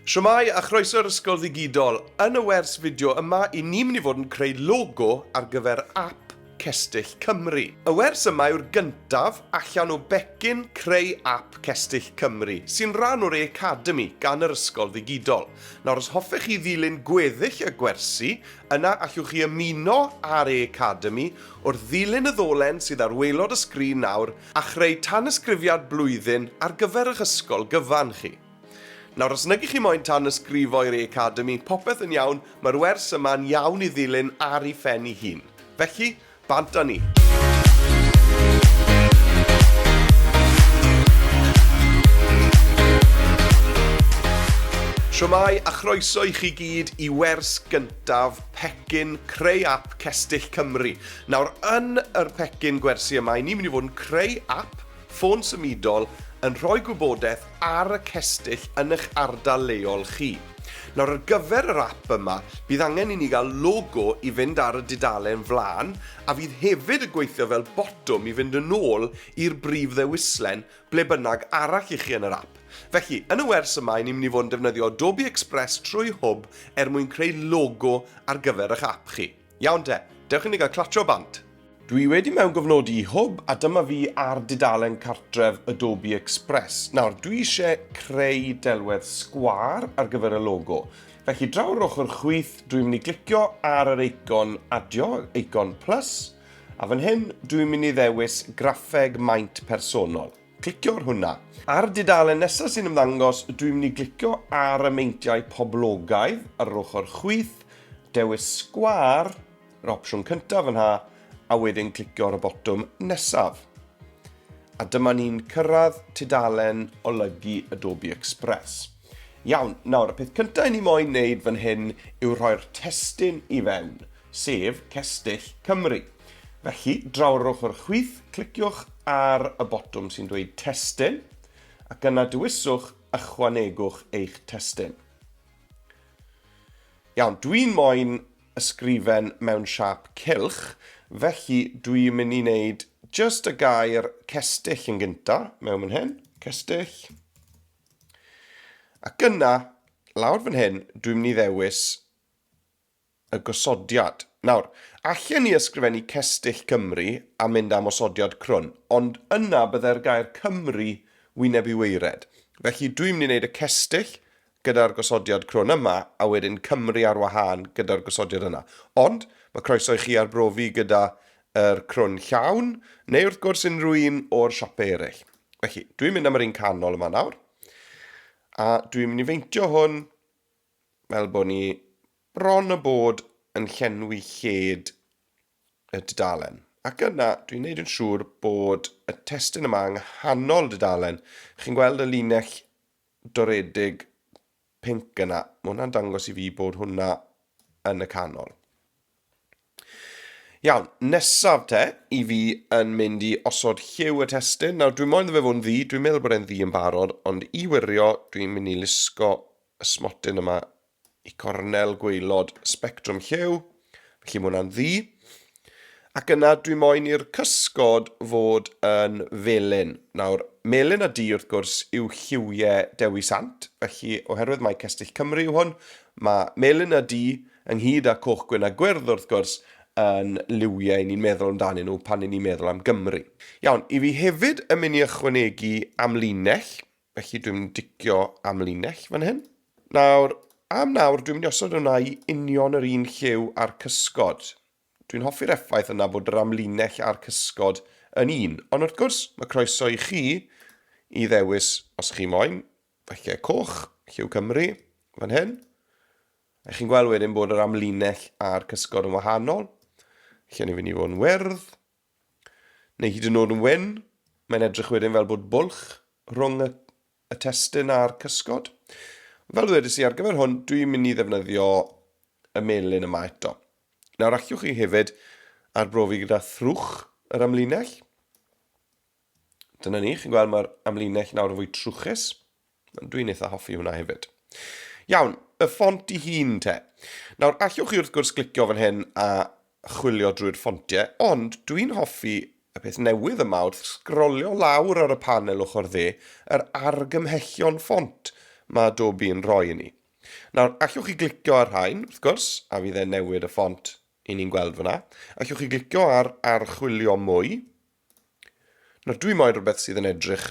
Shwmae a chroeso i'r Ysgol Ddigidol. Yn y wers fideo yma, i ni mynd i fod yn creu logo ar gyfer ap Cestyll Cymru. Y wers yma yw'r gyntaf allan o becyn creu ap Cestyll Cymru, sy'n rhan o'r e-Academi gan yr Ysgol Ddigidol. Nawr os hoffech chi ddilyn gweddill y gwersi, yna allwch chi ymuno â'r e-Academi wrth ddilyn y ddolen sydd ar waelod y sgrin nawr a chreu tanysgrifiad blwyddyn ar gyfer eich ysgol gyfan chi. Nawr, os nag ych chi moyn tanysgrifo i'r Academi, popeth yn iawn, mae'r wers yma'n iawn i ddilyn ar ei phen ei hun. Felly, bant â ni! Shwmae a chroeso i chi gyd i wers gyntaf pecyn Creu Ap Cestyll Cymru. Nawr, yn yr pecyn gwersi yma, 'y ni'n mynd i fod yn creu ap Ffôn symudol yn rhoi gwybodaeth ar y cestyll yn eich ardal leol chi. Nawr ar gyfer yr ap yma, bydd angen i ni gael logo i fynd ar y dudalen flaen a fydd hefyd y gweithio fel botwm i fynd yn ôl i'r brif ddewislen ble bynnag arall i chi yn yr ap. Felly, yn y wers yma i ni'n mynd i fod yn defnyddio Adobe Express trwy Hwb er mwyn creu logo ar gyfer eich ap chi. Iawn te, dewch i ni gael clatro bant! Dwi wedi mewngofnodi i Hwb a dyma fi ar dudalen cartref Adobe Express. Nawr, dwi eisiau creu delwedd sgwâr ar gyfer y logo. Felly, draw yr ochr chwith, dwi'n mynd i glicio ar yr eicon adio, eicon plus, a fan hyn, dwi'n mynd i ddewis graffeg maint personol. Clicio ar hwnna. Ar dudalen nesaf sy'n ymddangos, dwi'n mynd i glicio ar y meintiau poblogaidd ar yr ochr chwith, dewis sgwâr, yr opsiwn cyntaf yna, a wedyn clicio ar y botwm nesaf. A dyma ni'n cyrraedd tudalen olygu Adobe Express. Iawn, nawr, y peth cyntaf i ni moyn wneud fan hyn yw rhoi'r testyn i fewn. sef Cestyll Cymru. Felly, draw ar yr ochr chwith, cliciwch ar y botwm sy'n dweud Testun, ac yna dewiswch Ychwanegwch eich testun. Iawn, dwi'n moyn ysgrifen mewn siap cylch, felly dwi'n mynd i wneud just y gair cestyll yn gynta, mewn fan hyn, cestyll. Ac yna, lawr fan hyn, dwi'n mynd i ddewis y gosodiad. Nawr, allen ni ysgrifennu cestyll Cymru a mynd am osodiad crwn, ond yna byddai'r gair Cymru wyneb i waered. Felly, dwi'n mynd i wneud y cestyll gyda'r gosodiad crwn yma, a wedyn Cymru ar wahân gyda'r gosodiad yna. Ond, mae croeso i chi arbrofi gyda yr crwn llawn, neu wrth gwrs unrhyw un o'r siopau eraill. Felly, dwi'n mynd am yr un canol yma nawr, a dwi'n mynd i feintio hwn fel bod ni bron a bod yn llenwi lled y dudalen. Ac yna, dwi'n neud yn siŵr bod y testun yma yng nghanol dudalen. Chi'n gweld y linell doredig pink yna? Mae hwnna'n dangos i fi bod hwnna yn y canol. Iawn, nesaf te, i fi yn mynd i osod lliw y testyn. Nawr, dwi'n moyn fe fod yn ddi, dwi'n meddwl bod e'n ddi yn barod, ond i wirio, dwi'n mynd i lusgo y smotyn yma i cornel gweilod spectrwm lliw, felly mae hwnna'n ddi. Ac yna, dwi'n moyn i'r cysgod fod yn felyn. Nawr, melyn a di, wrth gwrs, yw lliwiau Dewi Sant, felly oherwydd mae Cestyll Cymru yw hwn, mae melyn a di ynghyd â coch, gwyn a gwyrdd wrth gwrs, yn liwiau 'yn ni'n meddwl amdanyn nhw pan 'yn ni'n meddwl am Gymru. Iawn, i fi hefyd yn mynd i ychwanegu amlinell, felly dwi'n mynd i dicio amlinell fan hyn. Nawr, am nawr, dwi'n mynd i osod hwnna i union yr un lliw a'r cysgod. Dwi'n hoffi'r effaith yna bod yr amlinell a'r cysgod yn un, ond wrth gwrs, mae croeso i chi i ddewis, os chi moyn, falle coch, lliw Cymru, fan hyn, A chi'n gweld wedyn bod yr amlinell a'r cysgod yn wahanol. Lle ni'n fynd i fod yn wyrdd, neu hyd yn oed yn wyn. Mae'n edrych wedyn fel bod bwlch rhwng y, y testyn a'r cysgod. Fel ddwedais i ar gyfer hwn, dwi'n mynd i ddefnyddio y melin yma eto. Nawr allwch chi hefyd arbrofi gyda thrwch yr amlinell. Dyna ni, chi'n gweld mae'r amlinell nawr yn fwy trwchus. Dwi'n eitha hoffi hwnna hefyd. Iawn, y ffont i hun te. Nawr, allwch chi wrth gwrs glicio fan hyn a chwilio drwy'r ffontiau, ond dwi'n hoffi y peth newydd yma wrth sgrolio lawr ar y panel ochr dde, yr argymhellion ffont mae Adobe yn rhoi i ni. Nawr, allwch chi glicio ar rhain, wrth gwrs, a fydd e'n newid y ffont i ni'n gweld fyna. Allwch chi glicio ar archwilio mwy, Nawr dwi moyn rhywbeth sydd yn edrych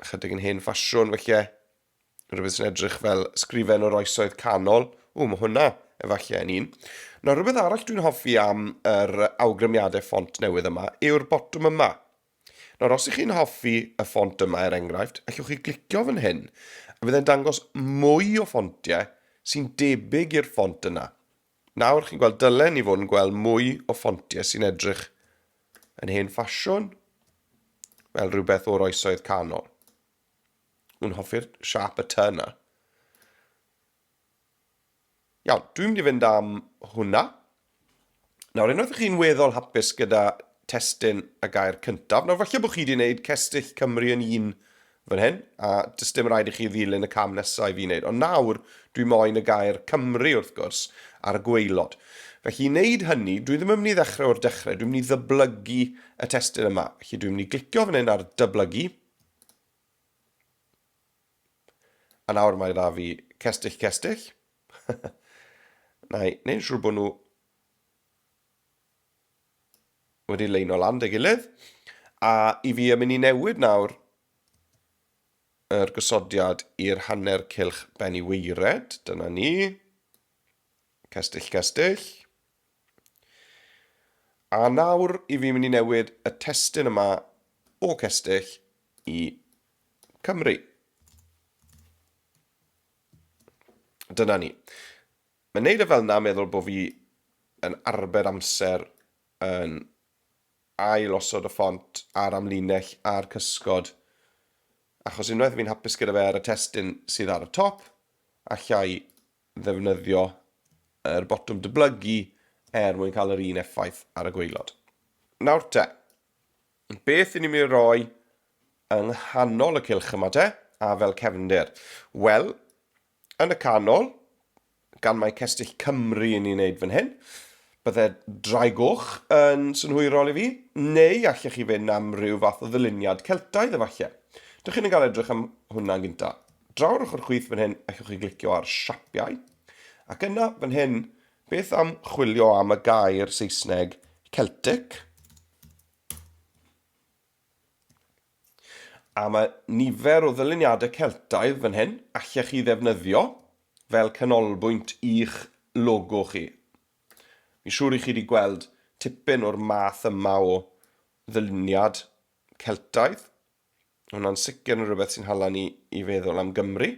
ychydig yn hen ffasiwn felly. Rhywbeth sy'n edrych fel sgrifen o'r oesoedd canol. O, mae hwnna efallai yn un. Nawr rhywbeth arall dwi'n hoffi am yr awgrymiadau ffont newydd yma yw'r botwm yma. Nawr, os ych chi'n hoffi y ffont yma, er enghraifft, allwch chi glicio fan hyn, a bydd e'n dangos mwy o ffontiau sy'n debyg i'r ffont yna. Nawr, chi'n gweld, dylen ni fod yn gweld mwy o ffontiau sy'n edrych yn hen ffasiwn, fel rhywbeth o'r oesoedd canol. Nhw'n hoffi'r siap y ty yna. Iawn, dwi'n mynd i fynd am hwnna. Nawr, unwaith ydych chi'n weddol hapus gyda testyn y gair cyntaf, nawr falle bod chi wedi gwneud cestyll Cymru yn un fan hyn, a does dim rhaid i chi ddilyn y cam nesaf i fi wneud. Ond nawr, dwi moyn y gair Cymru, wrth gwrs, ar y gwaelod. Felly, i wneud hynny, dwi ddim yn mynd i ddechrau o'r dechrau, dwi'n mynd i ddyblygu y testun yma. Felly, dwi'n mynd i glicio fan hyn ar dyblygu. A nawr mae dda fi cestyll cestyll. Na i wneud siŵr bod nhw wedi leino lan dy gilydd. A i fi yn mynd i newid nawr yr gosodiad i'r hanner cilch ben i weired. Dyna ni. Cestyll, cestyll. A nawr i fi mynd i newid y testyn yma o cestyll i Cymru. Dyna ni. Mae'n neud e fel na meddwl bo fi yn arbed amser yn ail osod y ffont a'r amlinell a'r cysgod achos unwaith fi'n hapus gyda fe ar y testun sydd ar y top allai ddefnyddio yr botwm dyblygu er mwyn cael yr un effaith ar y gwaelod. Nawr te, beth i ni'n mynd i roi yng nghanol y cylch yma te a fel cefndir? Wel, Yn y canol, gan mai Cestyll Cymru ni'n neud fan hyn, bydde Drai Goch yn synhwyrol i fi, neu allech chi fynd am ryw fath o ddyluniad Celtaidd efalle. Dych chi'n yn cael edrych am hwnna'n gynta. Draw'r ochr chwith fan hyn, allwch chi glicio ar siapiau. Ac yna, fan hyn, beth am chwilio am y gair Saesneg Celtic? A mae nifer o ddyluniadau Celtaidd fan hyn allech chi ddefnyddio fel canolbwynt i'ch logo chi. Fi'n siŵr i chi wedi gweld tipyn o'r math yma o ddyluniad Celtaidd. Hwna'n sicr yn rhywbeth sy'n hala ni i feddwl am Gymru.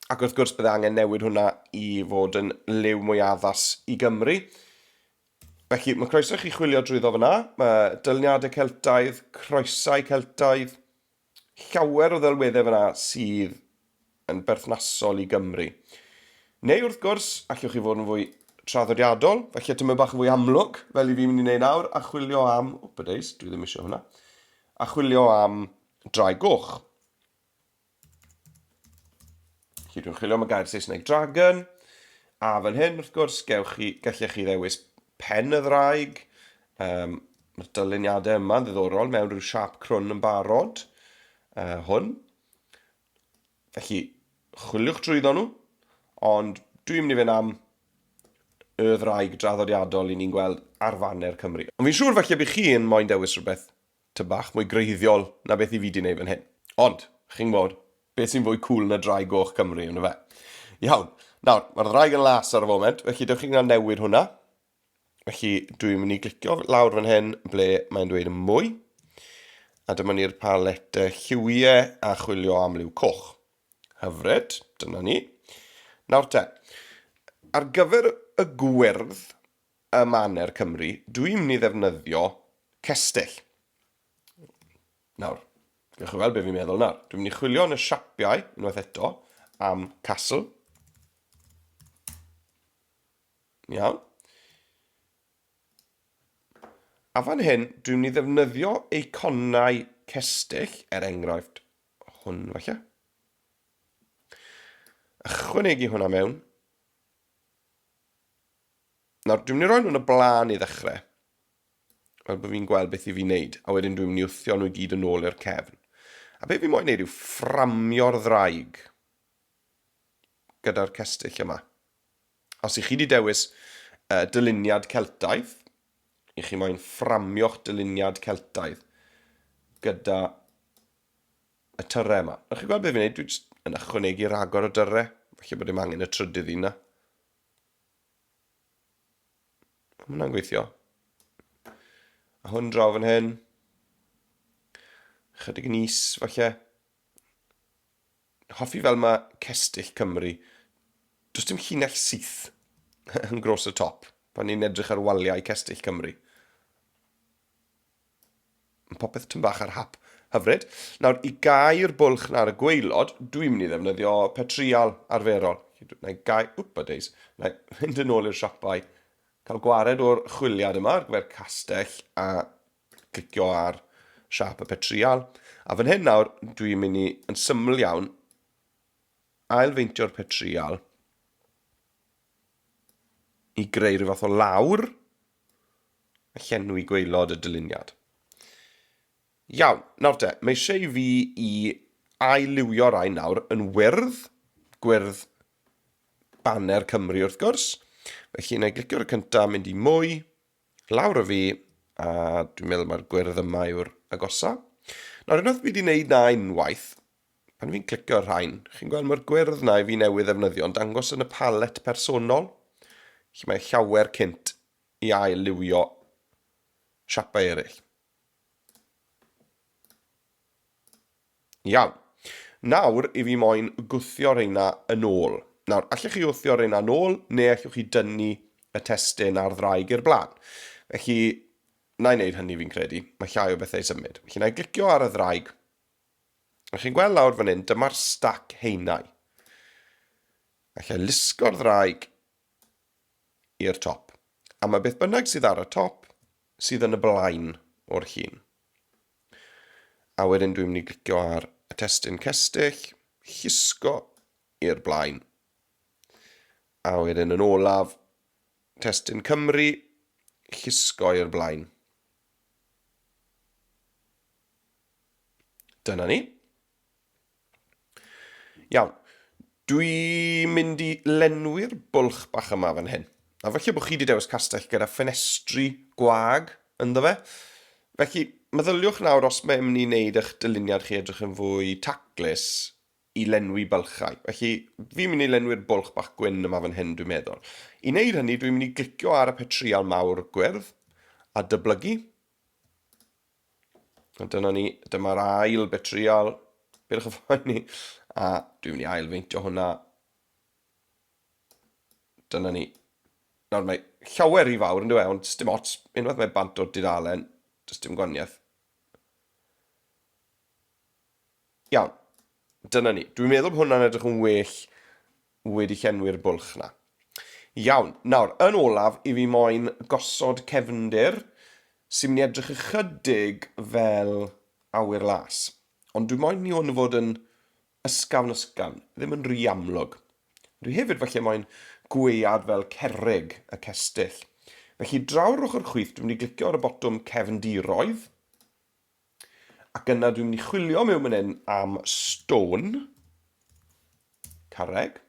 Ac wrth gwrs bydde angen newid hwnna i fod yn liw mwy addas i Gymru. Felly, mae croeso i chi chwilio drwyddo fyna. Mae dylniadau Celtaidd, croesau Celtaidd, llawer o ddelweddau fyna sydd yn berthnasol i Gymru. Neu wrth gwrs, allwch chi fod yn fwy traddodiadol, felly tyma bach yn fwy amlwg, fel i fi mynd i wneud nawr, a chwilio am, o bydeis, dwi ddim eisiau hwnna, a chwilio am drai goch. Felly dwi'n chwilio am y gair Saesneg dragon, a fan hyn, wrth gwrs, gewch chi, gallech chi ddewis pen y ddraig. Um, Mae'r dyluniadau yma'n ddiddorol mewn rhyw siap crwn yn barod. Uh, hwn. Felly, chwiliwch drwyddo nhw, ond dwi'n mynd i fynd am y ddraig draddodiadol i ni'n gweld ar faner Cymru. Ond fi'n siŵr felly bydd chi'n moyn dewis rhywbeth Tŷ bach mwy gwreiddiol na beth i fi 'di neud fan hyn. Ond, chi'n gwbod, beth sy'n fwy cŵl na Ddraig Goch Cymru, on'd yfe? Iawn, nawr, mae'r ddraig yn las ar y foment, felly dewch i ni newid hwnna. Felly, dwi'n mynd i glicio lawr fan hyn ble mae'n dweud yn mwy. A dyma ni'r paletau lliwiau a chwilio am liw coch. Hyfryd, dyna ni. Nawr te, ar gyfer y gwyrdd, y maner Cymru, dw i'n mynd i ddefnyddio cestyll. Nawr, gewch chi weld beth fi'n meddwl nawr. Dwi'n mynd i chwilio yn y siapiau, unwaith eto, am castle. Iawn. A fan hyn, dwi'n mynd i ddefnyddio eiconau cestyll, er enghraifft hwn falle. Ychwanegu hwnna mewn. Nawr, dwi'n mynd i roi nhw'n y blaen i ddechrau. Fel bod fi'n gweld beth i fi wneud, a wedyn dwi'n mynd i wthio nhw i gyd yn ôl i'r cefn. A beth fi moyn wneud yw fframio'r ddraig gyda'r cestyll yma. Os i chi wedi dewis uh, dyluniad Celtaidd, i chi moyn fframio'ch dyluniad Celtaidd gyda y tyrre yma. Nawr chi'n gweld beth fi'n gwneud, dwi'n yn ychwanegu rhagor o dyrre, felly bod dim angen y trydydd un yna. Mae hwnna'n gweithio. A hwn draw fan hyn. Chydig yn is, falle. Hoffi fel mae Cestyll Cymru. Does dim llinell syth yn gros y top pan ni'n edrych ar waliau Cestyll Cymru. Mae popeth tym bach ar hap. Hyfryd. Nawr, i gau'r bwlch na'r y gweilod, dwi'n mynd i ddefnyddio petrial arferol. Na i gau... Wpa days. Na i fynd yn ôl i'r siopau. Cael gwared o'r chwiliad yma ar gyfer castell a clicio ar siap y petrial. A fan hyn nawr, dwi'n mynd i, yn syml iawn, ailfeintio'r petrial i greu rhyw fath o lawr a llenwi gwaelod y dyluniad. Iawn, nawr te, mae eisiau i fi i ailywio rai nawr yn wyrdd, gwyrdd baner Cymru wrth gwrs. Felly, na i glicio ar y cyntaf, mynd i mwy, lawr y fi, a dwi'n meddwl mae'r gwyrdd yma yw'r agosau. Nawr, unwaith fi wedi wneud na unwaith, Pan fi'n clicio ar rhain, chi'n gweld mae'r gwyrdd na i fi newydd ddefnyddio yn dangos yn y palet personol, lle mae llawer cynt i ail liwio siapau eraill. Iawn. Nawr i fi moyn gwthio reina yn ôl. Nawr, allech chi wthio reina yn ôl, neu allwch chi dynnu y testyn ar ddraig i'r blaen. Felly, na i wneud hynny fi'n credu. Mae llai o bethau i symud. Felly, na i glicio ar y ddraig. A chi'n gweld lawr fan hyn, dyma'r stac heinau. Alla lusgo'r ddraig i'r top. A mae beth bynnag sydd ar y top sydd yn y blaen o'r llun. A wedyn dwi'n mynd i glicio ar y testyn cestyll, llusgo i'r blaen. A wedyn yn olaf, testyn Cymru, llusgo i'r blaen. Dyna ni. Iawn. Dwi'n mynd i lenwi'r bwlch bach yma fan hyn. A felly bod chi wedi dewis castell gyda ffenestri gwag ynddo fe. Felly, meddyliwch nawr os mae'n mynd i wneud eich dyluniad chi edrych yn fwy taclus i lenwi bylchau. Felly, fi'n mynd i lenwi'r bwlch bach gwyn yma fan hyn, dwi'n meddwl. I wneud hynny, dwi'n mynd i glicio ar y petrial mawr gwyrdd a dyblygu. A dyna ni, dyma'r ail betriol. Byrch y ffaen ni. A dwi'n mynd i ail feintio hwnna. Dyna ni. Nawr mae llawer i fawr yn dweud, ond dim ots, unwaith mae bant o'r dudalen, does dim gwaniaeth. Iawn, dyna ni. Dwi'n meddwl bod hwnna'n edrych yn well wedi llenwi'r bwlch 'na. Iawn, nawr, yn olaf i fi moyn gosod cefndir sy'n mynd i edrych ychydig fel awyr las. Ond dwi moyn i hwn fod yn ysgafn ysgafn, ddim yn rhy amlwg. Dwi hefyd falle moyn gwead fel cerrig y cestyll. Felly draw'r ochr chwith dwi'n mynd i glicio ar y botwm cefndiroedd. Ac yna dwi'n mynd i chwilio mewn mynd hyn am stone. Carreg.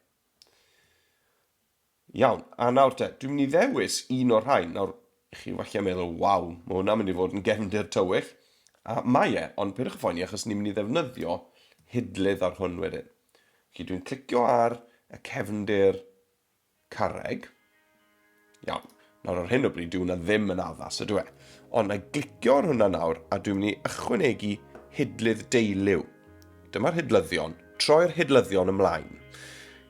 Iawn, a nawr te, dwi'n mynd i ddewis un o'r rhain. Nawr, chi falle meddwl, waw, mae hwnna'n mynd i fod yn gefndir tywyll. A mae e, ond pyrwch y ffoen i achos ni'n mynd i ddefnyddio hidlydd ar hwn wedyn. Felly dwi'n clicio ar y cefndir Carreg. Iawn. Nawr ar hyn o bryd dyw hwnna ddim yn addas ydw e. Ond na i glicio ar hwnna nawr a dwi'n mynd i ychwanegu hidlydd deiliw. Dyma'r hidlyddion. Troi'r hidlyddion ymlaen.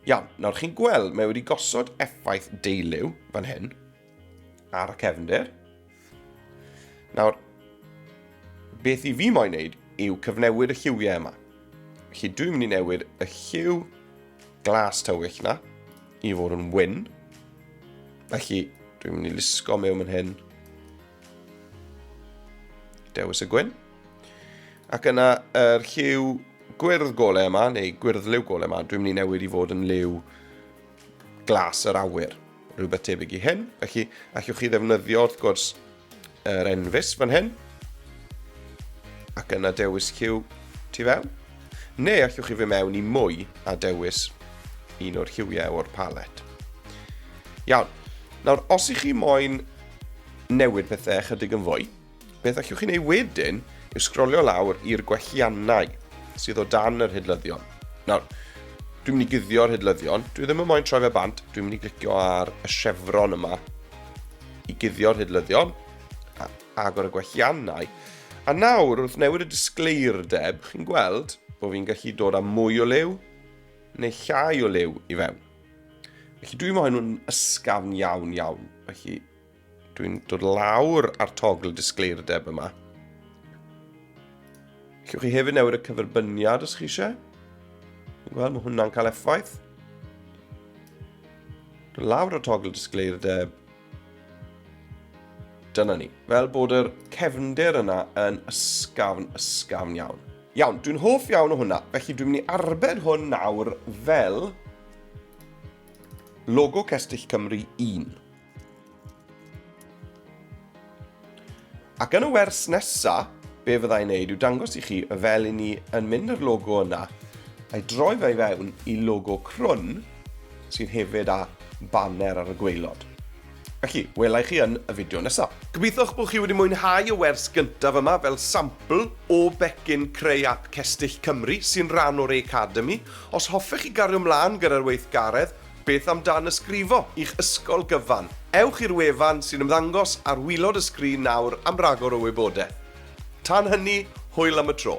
Iawn, nawr chi'n gweld mae wedi gosod effaith deiliw fan hyn. ar y cefnder. Nawr, beth i fi moyn wneud yw cyfnewid y lliwiau yma. Felly dwi'n mynd i newid y lliw glas tywyll na i fod yn wyn. Felly dwi'n mynd i lusgo mewn yn hyn. Dewis y gwyn. Ac yna yr lliw gwyrdd golau yma, neu gwyrdd liw golau yma, dwi'n mynd i newid i fod yn liw glas yr awyr, rhywbeth tebyg i hyn. Felly, allwch chi ddefnyddio, wrth gwrs, yr enfys fan hyn, ac yna dewis lliw tu fewn. Neu allwch chi fy mewn i mwy a dewis un o'r lliwiau o'r palet. Iawn, nawr os ych chi moyn newid pethau chydig yn fwy, Beth allwch chi'n ei wedyn yw sgrolio lawr i'r gwelliannau sydd o dan yr hydlyddion. Nawr, dwi'n mynd i guddio'r hydlyddion, dwi ddim yn moyn troi fe bant, dwi'n mynd i glicio ar y chevron yma i guddio'r hydlyddion, a agor y gwelliannau. A nawr, wrth newid y disgleirdeb, chi'n gweld bod fi'n gallu dod â mwy o liw neu llai o liw i fewn. Felly dwi'n moyn nhw'n ysgafn iawn iawn, felly Dwi'n dod lawr ar togl y disgleirdeb yma. Cewch chi hefyd newid y cyferbyniad os chi eisiau. Wel, mae hwnna'n cael effaith. Dod lawr ar togl y disgleirdeb. Dyna ni. Fel bod yr cefnder yna yn ysgafn, ysgafn iawn. Iawn, dwi'n hoff iawn o hwnna. Felly dwi'n mynd i arbed hwn nawr fel logo Cestyll Cymru 1. Ac yn y wers nesa, be fydda i'n neud yw dangos i chi fel i ni yn mynd â'r logo yna, a'i droi fe i fewn i logo crwn, sydd hefyd â banner ar y gweilod. Felly, wela i chi yn y fideo nesa. Gobeitho'ch bod chi wedi mwynhau y wers gyntaf yma fel sampl o becyn creu ap Cestyll Cymru, sy'n ran o'r Academi. Os hoffech chi gario mlaen gyda'r weithgaredd, Beth am danysgrifo i'ch ysgol gyfan? Ewch i'r wefan sy'n ymddangos ar wilod y sgrin nawr am ragor o wybodaeth. Tan hynny, hwyl am y tro!